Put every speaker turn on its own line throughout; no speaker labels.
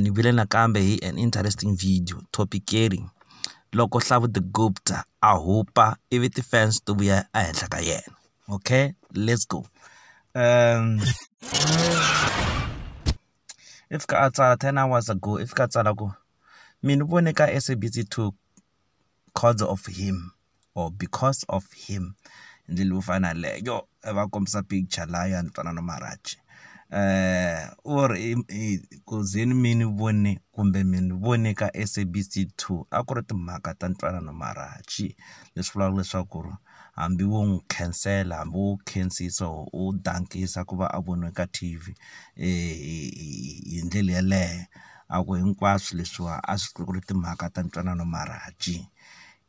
ni vile nakambe hi an interesting video topic caring loko Hlavu the Gupta a hupa ivi ti-fans to vuya ehenhla ka yena okay let's go um i fika a tsala ten hours ago i fika a tsala ku mina vone ka SABC two coz of him or because of him hi ndlela yo fana na yaleyo va kombisa picture laya ntwanano Maharaj u ri ku ze ni mi ni vone kumbe mi ni vone ka SABC 2 a ku ri timhaka ta ntwanano Maharaj leswi vulaka leswaku ri hambi wo n'wi khansela hambi wo khensisa or u dankisa ku va a voniwe ka T_V hi ndlela yeleyo a ku hinkwaswo leswiwa a swi ku ri timhaka ta ntwanano marhandzhi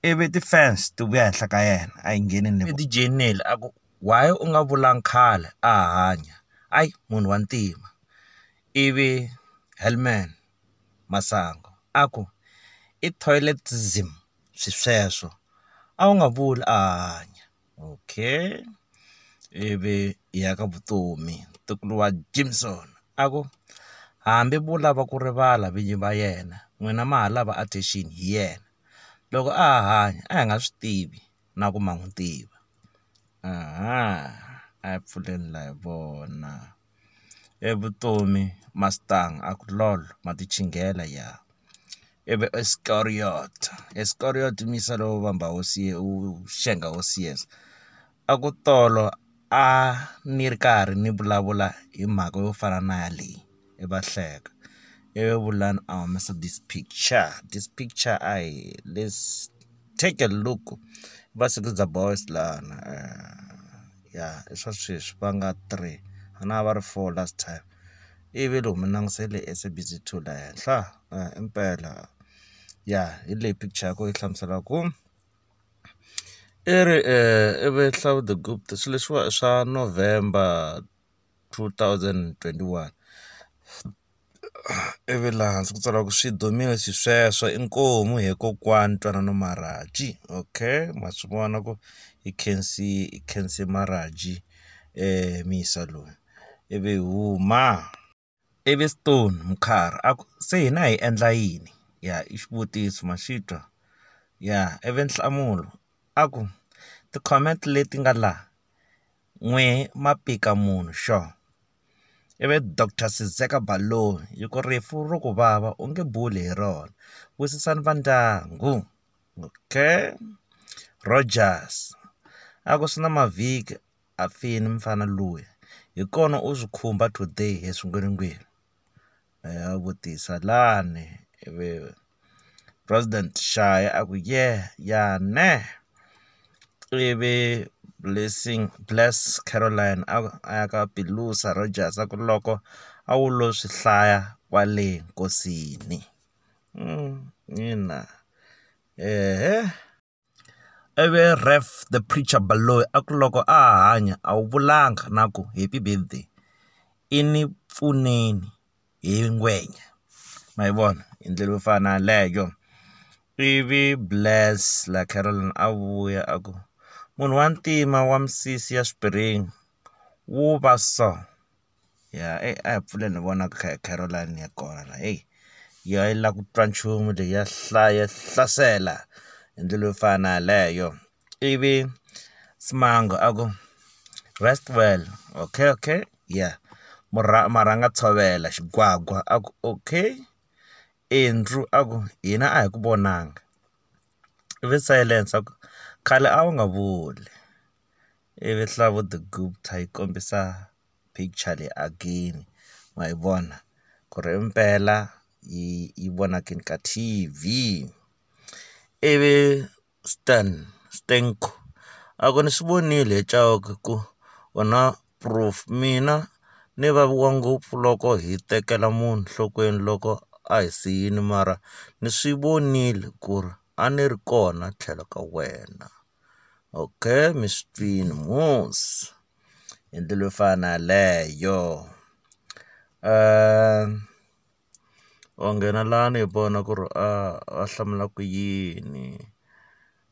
ivi ti-fans ti vuya henhla ka yena a yi ngheni ni ti dyeleni a ku why u nga vulanga khale a hanya i munhu wa ntima ivi Helman Masangu a ku i toilet-ism. xisweswo a wu nga vuli a hanya okay ivi hi ya ka vutomi ntukulu wa Jimson a ku hambi vo lava ku rivala vinyi va yena n'wina ma ha lava attention hi yena loko a ha hanya a hi nga swi tivi na ku ma n'wi tiva a hi pfuleni la hi vona. E vutomi mastang a ku lol ma ti chingela ya i vi Iskariot Iskariot misa lowo vamba hosi u xenga hosi years a ku tolo a ni ri karhi ni vulavula hi mhaka yo fana na yaleyi i va hleka i vi vulani a humesa this picture this picture a hi let's take a look va sikiza boys lana. ya i swa sweswi va nga three a na ha va ri four last time ivi loko mi langutisile SABC 2 la henhla impela ya hi leyi picture ya kona yi hlamuselaka ku i ri i ve Hlaudebupt swilo leswiwa i swa November two thousand twenty one. ivi laha hansi ku tsariwa ku swi dumile xisweswo inkomu he kokwani ntwanano marhaji okay ma swi vona ku i khensi i khensi marhaji muyisa loyi ivi hi huma ivi stone mukharhi a ku se hina hi endla yini ya i xivutiso ma xi twa ya ivi nhlamulo a ku ti-comment leti nga laha n'wehe ma pika munhu sure. Ivi Doctor Sizeka Baloyi yi ku rifu ro ku vava u nge buli hi rona wisisani va ndyangu okay Rodgers a ku swi na mavhiki a fini mufana luya hi kona u swi khumba today hi swin'win'wini. a vutisa lani ivi president Shaya a ku yeah ya neh ivi blessing bless Caroline a a ya ka Piluza Rogers a ku loko a wu lo swi hlaya kwale nkosini ina eeh. Ivi Ref, The Preacher Baloyi a ku loko a ha hanya a wu vulanga na ku Happy Birthday i ni pfuneni hi ngwenya. Ma yi vona hi ndlela yo fana na yaleyo. Ivi Bless la Carolyn a vuya a ku, munhu wa ntima wa misisi ya xiphiringi wu va so. ya eyi a hi pfuleni hi vona Caroline ya kona heyi ya yi lava ku twa nchumu leyi ya hlaya hlasela hi ndlela yo fana na yaleyo ivi Smiler a ku rest well okay okay ya marhanga tshovela xigwagwa a ku okay Andrew a ku hina a hi ku vonanga ivi silence a ku khale a wu nga vuli. ivi Hlavuthu-Gupta yi kombisa picture leyi again ma yi vona ku ri impela yi yi vonakini ka T_V ivi Stan Stenko a ku ni swi vonile hi Chauke ku u na proof mina ni vaviwa ngopfu loko hi tekela munhu nhlokweni loko a hi siyile mara ni swi vonile ku ri a ni ri kona tlhelo ka wena. Okay, mi swi twini mos hi ndlela yo fana yaleyo um wa nghena lani hi vona ku ri a va hlamula ku yini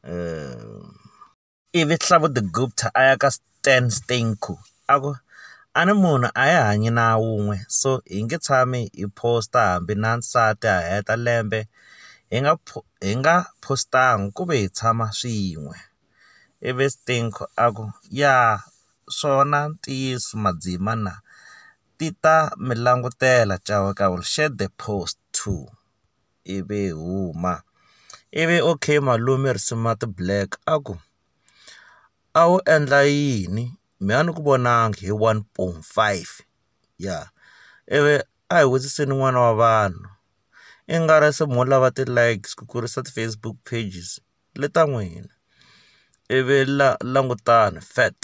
um ivi Hlamude Gupta a ya ka Ten Steincou a ku, A ni munhu a hi hanyi na wun'we so hi nge tshami hi phosta hambi na nsati a heta lembe hi nga hi nga phostanga ku ve hi tshama swin'we. Ivi Steincou a ku, Ya swona ntiyiso madzima na ti ta mi langutela Chauke will shed the post too. Ivi hi huma. Ivi OK Malome Risima the Black a ku, a wu endla yini me a ni ku vonangi hi one point five ya ivi a hi vutiseni n'wana wa vanhu i nga ri se mo lava ti-likes ku kurisa ti-Facebook pages le ta n'wina ivi la langutani fat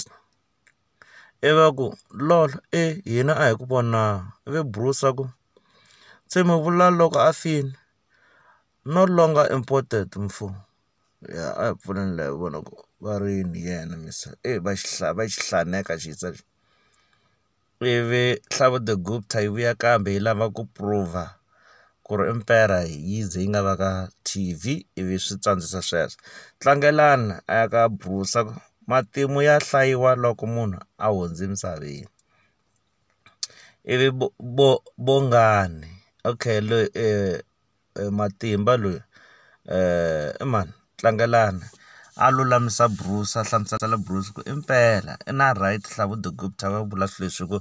i va ku lol e hina a hi ku vonangi ivi Bruce a ku se mi vula loko a fini no longer important mfo. ya a hi pfuleni la hi vona ku va rini hi yena se eyi va xi va xi hlaneka xi hisa lexi ivi Nhlavu the Gupta yi vuya kambe yi lava ku prove-a ku ri i mpela hi yi ze yi nga va ka T_V ivi swi tsandzisa sweswo Tlangelani a ya ka Busa ku matimu ya hlayiwa loko munhu a hundze emisaveni ivi Bongani okay loyi . Matimba loyi i mani Tlangelani a lulamisa Bruce a hlamusela Bruce ku i mpela i na right Hlavu the good a vula swi leswi hi ku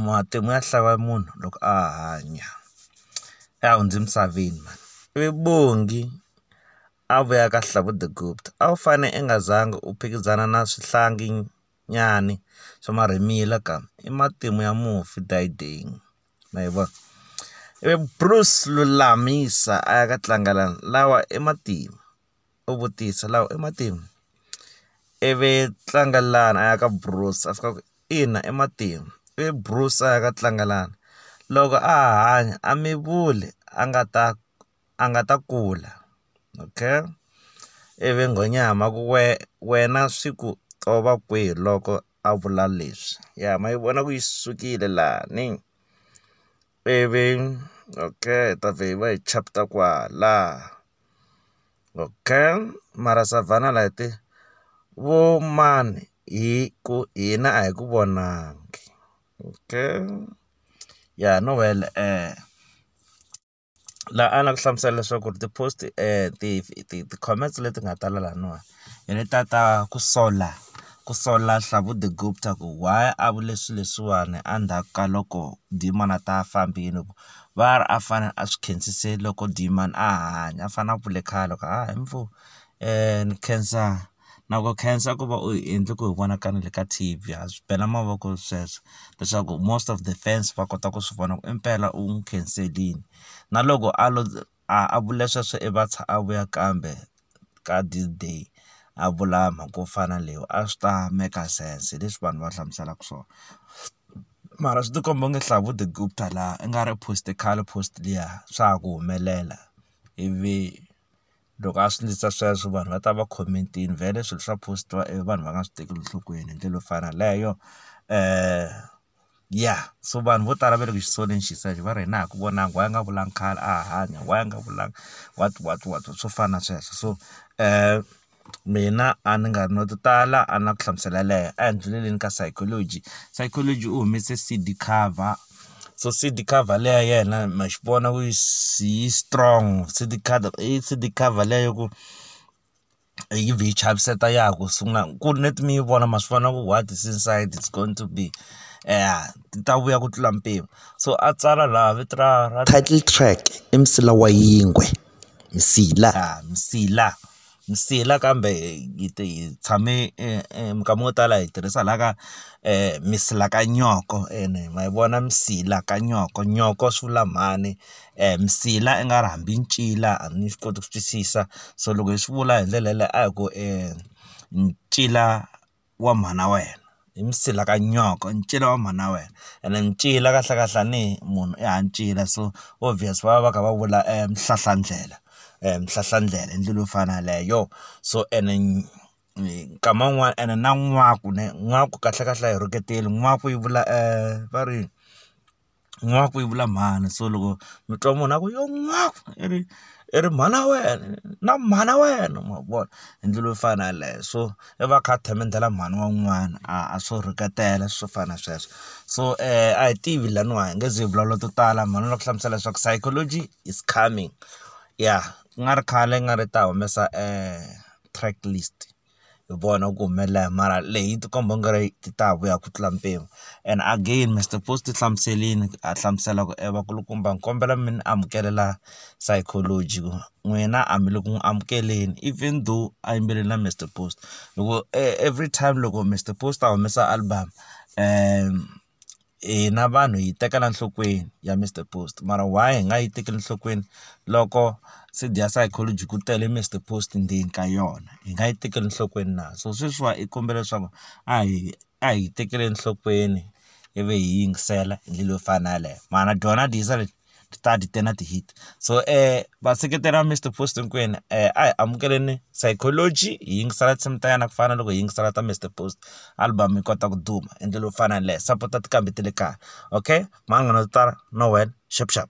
matimu ya hlaya munhu loko a hanya se a hundze emisaveni mhani ivi Bongi a vuya ka Hlavu the good a wu fane i nga zanga u phikizana na swihlangi nyana swa marhimila ka i matimu ya mufi . ma yi vona ivi Bruce Lulamisa a ya ka tlangela lawa i matimu u vutisa lawa i matimu ivi tlangelani a ya ka Bruce a fika a ku ina i matimu ivi Bruce a ya ka tlangelani loko a ha hanya a mi vuli a nga ta a nga ta kula okay ivi nghonyama ku we wena swi ku tova kwihi loko. a vula leswi ya ma yi vona ku yi sukile lani ivi okay hi ta vhe hi va hi chapter kwala okay mara savhana light vo mani hi ku hina a hi ku vonangi okay ya no well . la a la ku hlamusela leswaku ri ti-post ti ti ti-comments leti nga tala laniwa hi leta ta ku sola ku sola Hlavu the gupta ta ku why a vule swi leswiwani a ndzhaku ka loko Dieman a ta fambini ku va a ri a fane a swi khensise loko Dieman a hanya a fane a vule khale ku hayi ni khensa. na ku khensa ku va u hi endle ku hi vona ka na le ka T_V ha swi bela mavoko sweswo leswaku most of the fans va kota ku swi vona ku impela u n'wi khenselini na loko a lo a vule sweswo i a vuya kambe ka this day a vula mhaka yo fana na leyi a swi ta make sense hi leswi vanhu va hlamuselaka swona mara swi ti komba onge Hlavu the gupta laha i nga ri post khale post liya swa ha ku humelela ivi loko a swi ndlisa sweswo vanhu va ta va comment-ini vhele swilo swa post-iwa ivi vanhu va nga swi tekeli enhlokweni hi ndlela yo fana na leyo ya so vanhu vo tala va le ku xi soleni xi sa va ri hina a ku vonangi why a nga vulanga khale a hanya why a nga vulanga what what what swo fana na sweswo so mina a ni nga ri na to tala a na ku hlamusela yaleyo a hi ndlhuleleni ka psychology, psychology u humese C_D cover. so seed cover leyi ya yena ma xi vona ku yi yi strong seed cover i seed cover liya ya ku yi vhe yi chaviseta ya ha ku sungula ku ri neti mi yi vona ma swi vona ku what is inside it's going to be ya ti ta vuya ku tlula mpimo so a tsala laha vito ra ra title track i msila wa yingwe msila msila. Msila kambe hi ti hi tshame minkama yo tala hi tirhisa laha ka msilakanyoko ene ma yi vona msila ka nyoko nyoko swi vula mhani msila i nga ri hambi ncila a ni swi koti ku swi twisisa so loko hi swi vula hi ndlela yaleyo a hi ku ncila. wa mhana wena hi msila ka nyoko i ncila wa mhana wena ene ncila kahlekahle a ni munhu i ha ncila so obvious va va va kha va vula mhlahlandlela mhlahlandlela i ndlela yo fana yaleyo so ene nkama wun'wani ene na n'waku ne n'waku kahlekahle a hi rhuketeli n'waku yi vula va ri. n'waku yi vula mhani so loko mi twa munhu a ku yo n'waku i ri i ri mhana wena na mhana wena ma vona hi ndlela yo fana na yeleyo so i va a kha a themendela mhani wa un'wana a swo rhuketela swo fana na sweswo so a hi tivi laniwa hi nge ze hi vulavula to tala mhani u lava ku hlamusela leswaku psychology is coming ya ku nga ri khale i nga ri i ta humesa track list. hi vona ku humelela hi mara leyi yi ti komba u nga ri ti ta vuya ku tlula mpimo and again Mister Post u hlamuserile a hlamusela ku e vakulukumba ni kombela mi ni amukelela psychology ku n'wina a mi le ku n'wi amukeleni even though a yimbelele na Mister Post loko everytime loko Mister Post a humesa album . hina vanhu hi yi tekela nhlokweni ya Mister Post mara why hi nga yi tekeli nhlokweni loko se dya psychology ku tele Mister Post ndzeni ka yona hi nga yi tekeli enhlokweni na so sweswiwa i kombela leswaku a hi a hi tekeli enhlokweni ivi hi yingisela hi ndlela yo fana na yaleyo mara dyona dyisa . ti ta ti tena ti-hit so vaseketeri va Mister Post hinkwenu a hi amukeleni Sycology hi yingisela tinsimu ta yena ku fana na loko hi yingisela ta Mister Post album yi kota ku duma hi ndlela yo fana na yaleyo sapota tinqambi ta le kaya okay mhani munghana ndzi ta tala na wena xapu xapu.